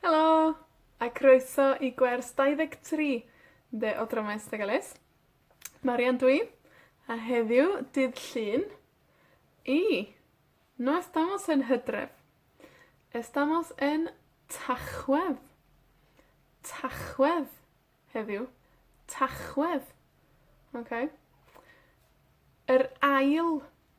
Helo, a croeso i gwers dau ddeg tri de o Dramau Ystadegolus. Marian dw i, a heddiw, dydd Llun, i, no estamos en Hydref. Estamos en Tachwedd. Tachwedd, heddiw. Tachwedd. Oce? Yr ail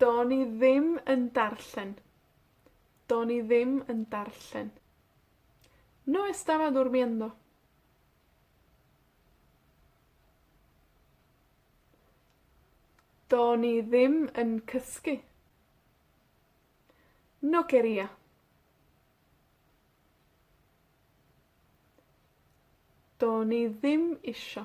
Do'n i ddim yn darllen. Do'n i ddim yn darllen. No estaba durmiendo. Do'n i ddim yn cysgu. No quería. Do'n i ddim isho.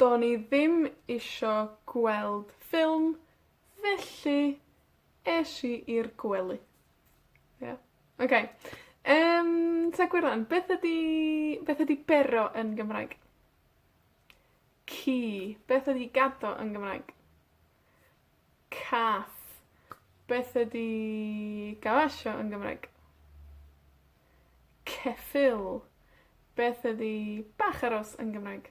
Do'n i ddim isho gweld ffilm, felly, esh i i'r gwely. Ie? Oce. Yym, ta gwe rŵan, beth ydi, beth ydi bero yn Gymraeg? Ci. Beth ydi gado yn Gymraeg? Cath. Beth ydi gawasio yn Gymraeg? Ceffyl. Beth ydi bach a rhos yn Gymraeg?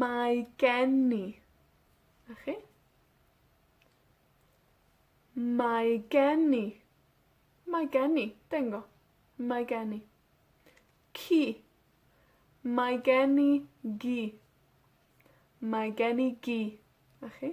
Mae gen i. 'Na chi. Mae gen i. Mae gen i. Bingo. Mae gen i. Ci. Mae gen i gi. Mae gen i gi. 'Na chi.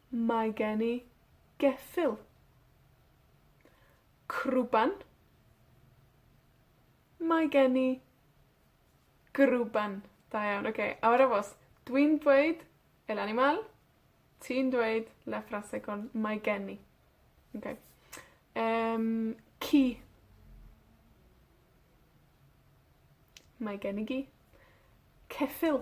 Mae gen i geffyl. Crwban. Mae gen i grwban. Da iawn. Oce, awyr aros. Dwi'n dweud el animal. Ti'n dweud la frase con mae gen i. Oce. Yym, ci. Mae gen i gi. Ceffyl.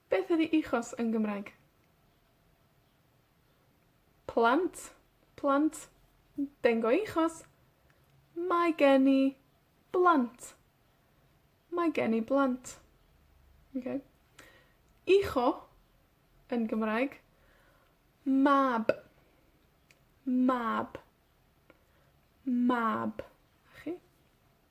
Beth ydi echos yn Gymraeg? Plant, plant. Dengys echos. Mae gen i blant. Mae gen i blant. Oce? Echo yn Gymraeg. Mab. Mab. Mab. 'Na chi.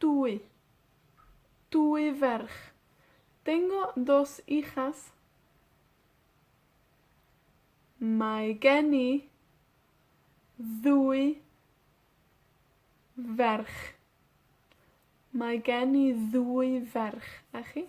Dwy. Dwy ferch. Tengo dos hijas. Mae gen i ddwy ferch. Mae gen i ddwy ferch. A chi?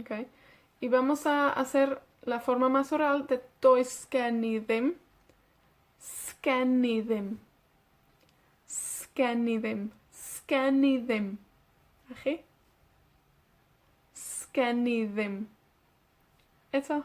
Oce? Y vamos a hacer la forma más oral de does gen i ddim. 'sgen i ddim. 'sgen i ddim. 'sgen i ddim. A chi? 'sgen i ddim. Eto.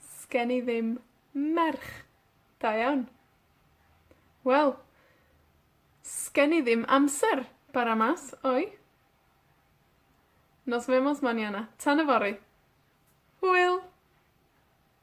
'Sgen i ddim merch. Da iawn. Wel, 'sgen i ddim amser bara 'ma, sori. Nos Wemos maniana. Tan yfory. Hwyl!